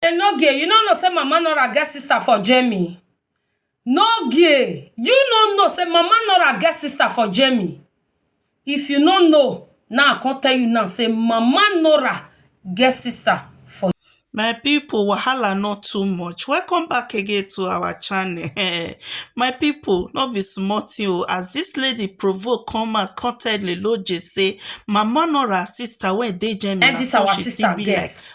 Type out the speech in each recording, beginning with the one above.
Enogie, you no know say Mama Nora get sister for Jamie. Nogie, you no know say Mama Nora get sister for Jamie. If you no know, now I come tell you now say Mama Nora get sister for my people wahala not too much welcome back again to our channel my people not be small thing o as this lady provoke come out come tell leloje say mama nor her sister wey dey germany And this na so our she sister still be get. like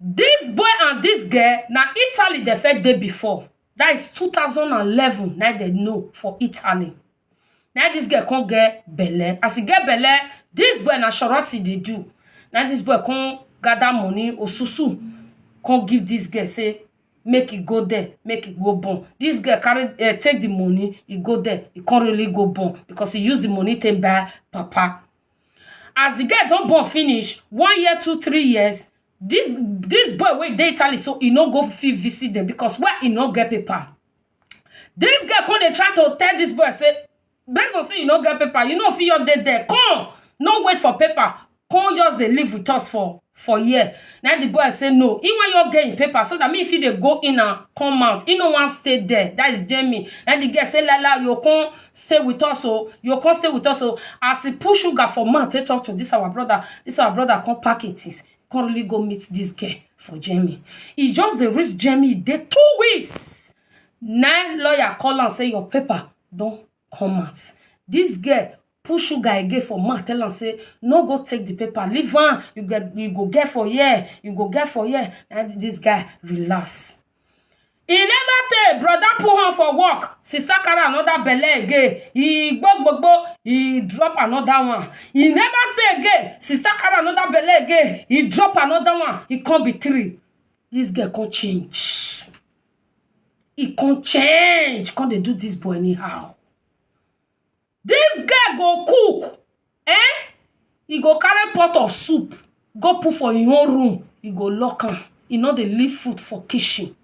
Dis boy and dis girl na Italy dem first dey before dat is two thousand and eleven na im dem know for Italy na im dis girl come get belle as e get belle dis boy na shawrot e dey do na im dis boy come gather money osusu come give dis girl say make e go there make e go born dis girl carry um take the money e go there e come really go born because e use the money take buy wrapper as the girl don born finish one year two three years this this boy wey dey italy so e no go fit visit them because why e no get paper this girl come dey try to tell this boy say based on say you no get paper you no fit just dey there come no wait for paper come just dey live with us for for here na the boy say no he wan your get him paper so that me fit dey go in and come out he no wan stay there that is jamie na the girl say lala you come stay with us o you come stay with us o as he put sugar for mouth take talk to this our brother this our brother come pack him things come really go meet this girl for jamie he just dey reach jamie dey two weeks na lawyer call am say your paper don come out this girl Put sugar again for mouth tell am say no go take the paper leave am you go you go get for here you go get for here and this guy relax e never tey brother put hand for work sister carry another belle again e gbogbogbo e drop another one e never tey again sister carry another belle again e drop another one e come be three this girl come change e come change come dey do this boy anyhow This girl go cook eh e go carry pot of soup go put for im own room e go lock am e no dey leave food for kitchen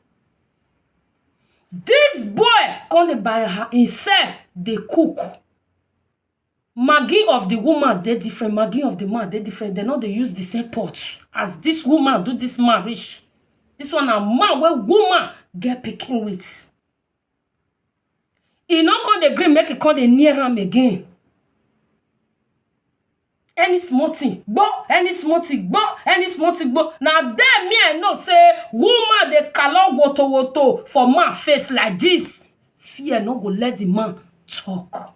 this boy come dey by her himself dey cook maggie of the woman dey different maggie of the man dey different dem no dey use the same pot as this woman do this man reach this one na man wey woman get pikin with e no come dey gree make e come dey near am again any small thing gbo any small thing gbo any small thing gbo na there me i know say woman dey kalo woto woto for man face like this fear no go let the man talk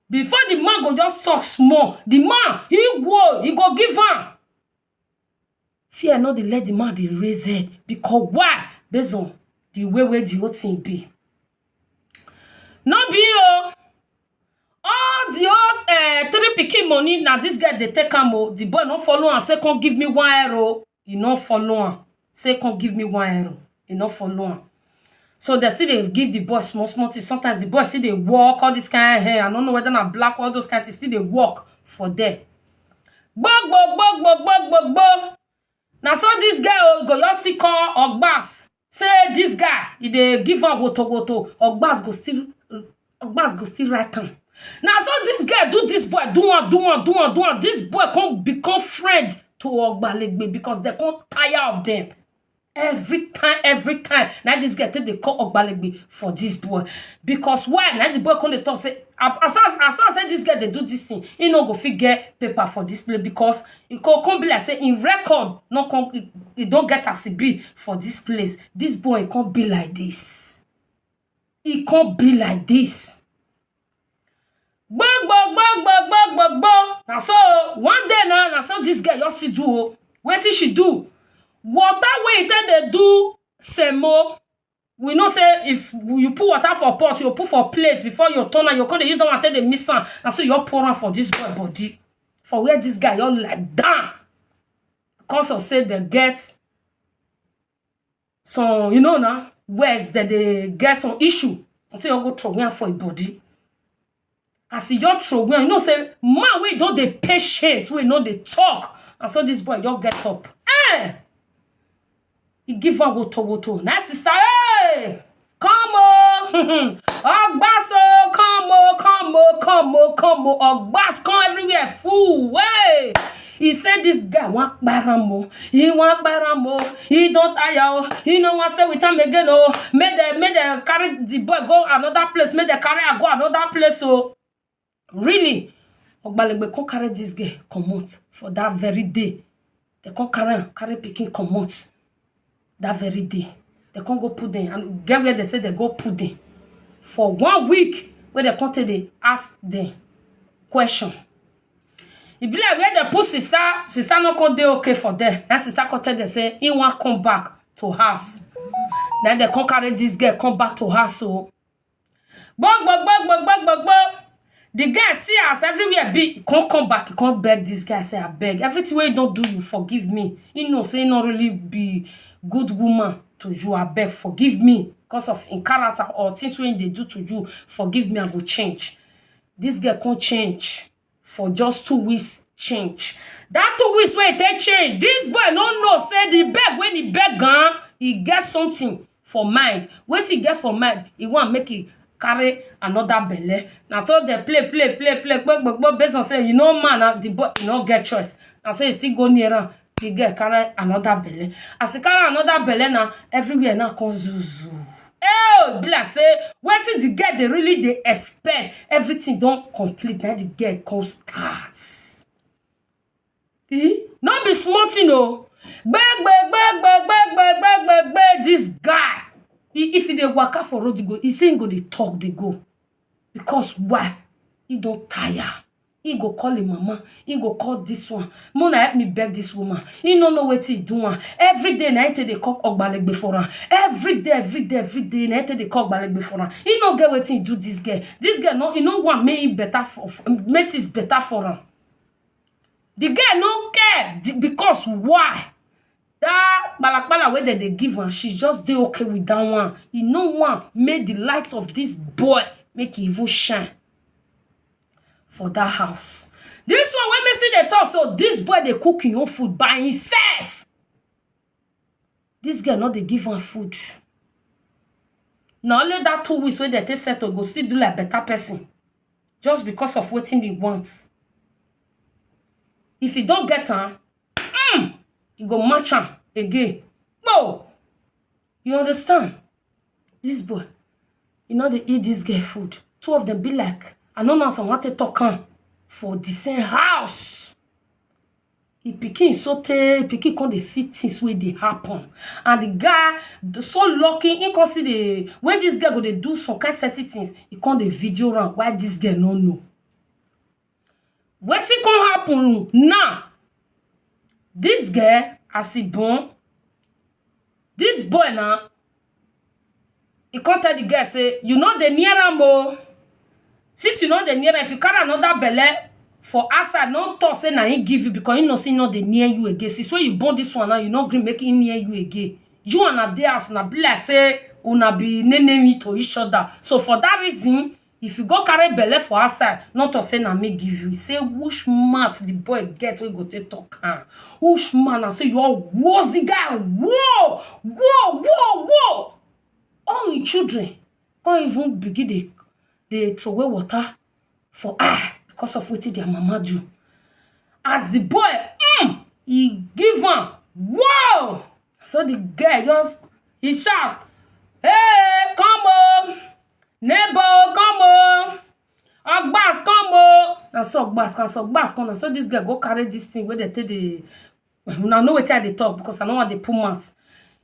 before the man go just talk small the man he go he go give am Fear no dey let di man dey raise head because why base on di way wey di whole tin be no be oo all di whole three pikin money na dis girl dey take am oo di boy no follow am say come give me one air oo e no follow am. say come give me one euro e no follow am so dem still dey give the boy small small thing sometimes the boy still dey work all this kind hair i no know whether na black all those kind things still dey work for there gbogbogbogbogbogbogbogbo na so this guy o go just still call ogbas say this guy e dey give am wotowoto ogbas go still ogbas go still write am na so dis girl do dis boy do am do am do am do am dis boy come become friend to ogbalegbe because dem come tire of dem every time every time na dis girl take dey call ogbalegbe for dis boy because why na the boy come dey talk say as as as as say dis girl dey do dis thing he no go fit get paper for dis place because e go come be like say im record no come e don get as e be for dis place dis boy come be like dis e come be like this gbogbogbogbogbogbogbogbo na so o one day na na so this girl just still do o wetin she do water wey e take dey do semo we know say if you put water for pot you go put for plate before you turn am you go come dey use that one take dey mix am na so you just pour am for this boy body for where this guy just lie down because of say dem get some you know na words dem dey get some issue you say you go throway am for im body as you just throway am you know say man wey don dey patient wey no dey talk na so this boy just get up eh e give am woto woto na sister hey come o ọgbas o come o come o come o come o ọgbas come everywhere full wey he say this guy wan kpara am o he wan kpara am o he don tire o he no wan stay with am again o make dem make dem carry the boy go another place make dem carry am go another place o. really ogbalegbe come carry dis girl comot for dat very day dem come carry am carry pikin comot dat very day dem come go put dem and get where dem say dem go put dem for one week wey dem come take dey ask dem question e be like where dem put sister sister no come dey okay for there na sister come tell dem say im wan come back to house na dem come carry dis girl come back to house o gbogbogbogbogbogbo the guy see as everywhere be he come come back he come beg this guy say abeg everything wey he don do you forgive me he know say he no really be good woman to you abeg forgive me because of him character or things wey he dey do to you forgive me i go change this girl come change for just two weeks change that two weeks wey e take change this boy no know say the beg wey e beg am e get something for mind wetin e get for mind e wan make e carry another belle na so dem play play play play gbogbogboo based on say you no man na the boy e no get choice na so e still go near am the girl carry another belle as e carry another belle na everywhere now come zuzu oh be like say wetin the girl dey really dey expect everything don complete na the girl come start e no be small thing o gbegbegbegbegbegbegbegbe this guy if he dey waka for road he go he say he go dey talk dey go because why he don tire He go call him mama, he go call this one. Mona help me beg this woman. He no know wetin he do am. Every day na him take dey call ogbalegbe for am. Every day, every day, every day na him take dey call ogbalegbe for am. He no get wetin he do this girl. This girl no, he no want make him better for, for- make things better for am. The girl no care the- because why? That kpalakpala wey dem dey give am, she just dey okay with that one. He no want make the light of this boy make e even shine. for that house this one wey me see dey talk so this boy dey cook him own food by himself this girl no dey give am food na only that two weeks wey dem take settle go still do like better person just because of wetin he want if he don get am mm, he go match am again no You understand? This boy, you know they eat this girl food. Two of them be like, I don't know as I want to talk am for the same house. He pikin so tey pikin come dey see things wey dey happen and the guy d- so lucky he come see the when this girl go dey do some kind certain things he come dey video am why this girl no know Wetin come happen now, dis girl as e born, dis boy na e come tell di girl sey you no dey near am oh, since you no dey near am if you carry anoda belle for outside no talk sey na im give you becos you know sey e no dey near you again, since wey you born dis one now you no gree make im near you again, you and una dey house una be like sey una be nene me to each oda, so for dat reason If you go carry belle for outside, no talk say na me give you. Say which mouth the boy get wey go take talk am? Which man and say you all was the guy? Whoa! Whoa! Whoa! Whoa! All him children come even begin dey dey throway water for eye because of wetin their mama do. As the boy um e give am whoa! Na so the girl just e shout hey come oo! neighbor o come o ogbas come o na so ogbas come so ogbas come na so this girl go carry this thing wey dem take dey una know wetin i dey talk because i no wan dey put mouth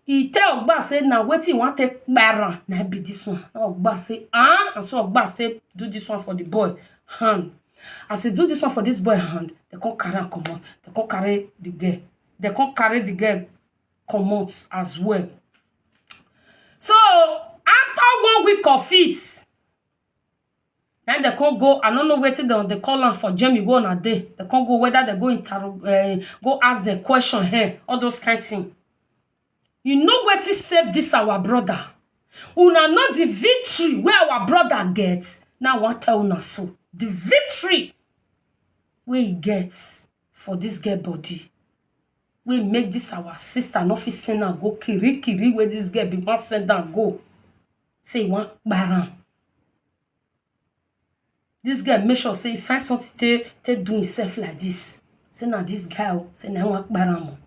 e tell ogbas say na wetin e wan take kpara am na im be this one na ogbas say ah na so ogbas take do this one for the boy hand as e do this one for this boy hand dem come carry am comot dem come carry the girl dem come carry the girl comot as well so after one week of it na im dem come go i no know wetin dem dey call am for germany wey una dey dem come go whether dem go interro um go ask dem question um all those kind thing you know wetin save this our brother una know the victory wey our brother get na i wan tell una so the victory wey e get for dis girl body wey make dis our sister no fit send am go kirikiri wey dis girl bin wan send am go say e wan kpara am dis girl make sure say e find something take take do himself like dis say na dis guy o say na him wan kpara am o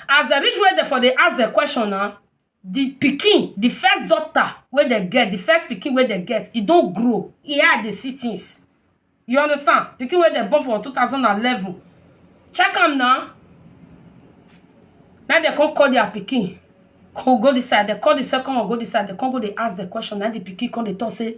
as dem reach where dem for dey ask dem question na di pikin, di first daughter wey dem get, di first pikin wey dem get, e don grow, e eye dey see things, you understand, pikin wey dem born for two thousand and eleven, check am na, na im dem come call dia pikin go dis side, dem call di second one go dis side, dem come go dey ask dem question, na im di pikin come dey talk sey.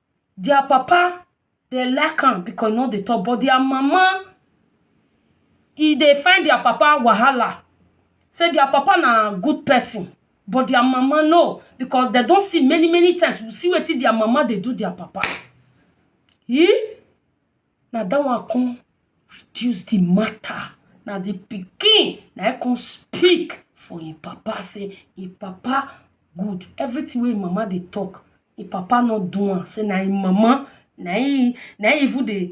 their papa dey like am because e no dey talk but their mama e dey find their papa wahala say their papa na good person but their mama no because dem don see many many times see wetin their mama dey do their papa Na dat one come reduce di matter, na di pikin na im come speak for im papa say im papa good, everything wey im mama dey talk im papa no do am, say na im mama na im na im even dey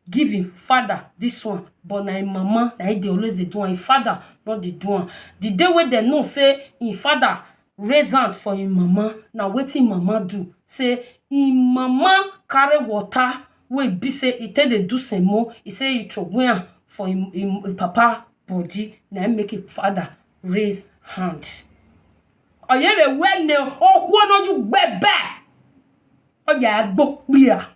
give im father dis one but na im mama na im dey always dey do am, im father no dey do am. Di day wey dem know say im father raise hand for im mama na wetin im mama do say im mama carry water wey e be say e take dey do semo e say e throway am for im im papa body na im make im father raise hand oyere wene okwonoju gbebe oya agbo kpia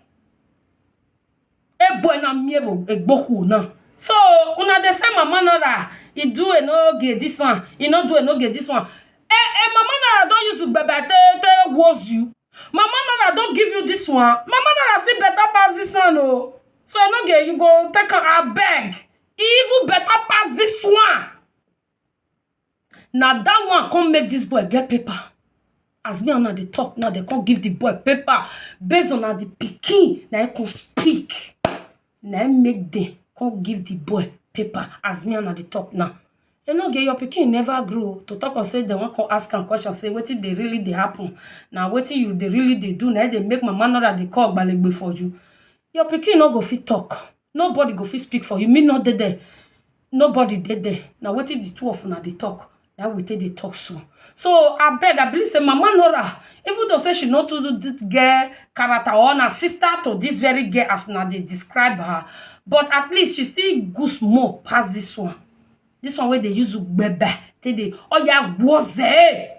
ebuena mievo egboku na so una dey say mama nara e do e no get this one e no do e no get this one eh eh mama nara don use ugbebe take take woz you mama nara don give you this one mama nara still better pass this one o so e no get you go take am abeg e even better pass this one na that one come make this boy get paper as me and una dey talk now dem come give the boy paper based on na the pikin na him come speak na him make dem come give the boy paper as me and una dey talk now enoge your pikin never grow o to talk of say dem wan come ask am question say wetin dey really dey happen na wetin you dey really dey do na him dey make mama nada dey call ogbalegbe for you your pikin no go fit talk nobody go fit speak for you me no dey there nobody dey there na wetin the two of una dey talk na we take dey talk so so abeg i believe say mama nora even though say she no too do this girl character or na sister to this very girl as una dey describe her but at least she still good small pass this one this one wey dey use ugbebe take dey oya gwoze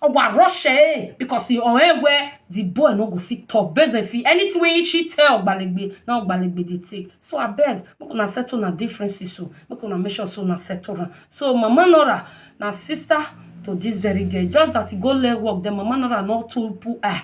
Owa rush eh because he or eh where the boy no go fit talk based on fit anything wey she tell Ogbalegbe na Ogbalegbe dey take. So abeg make una settle una differences so make una make sure so una settle am. So Mama Nora na sister to this very girl just that he go learn work then Mama Nora no too put eye.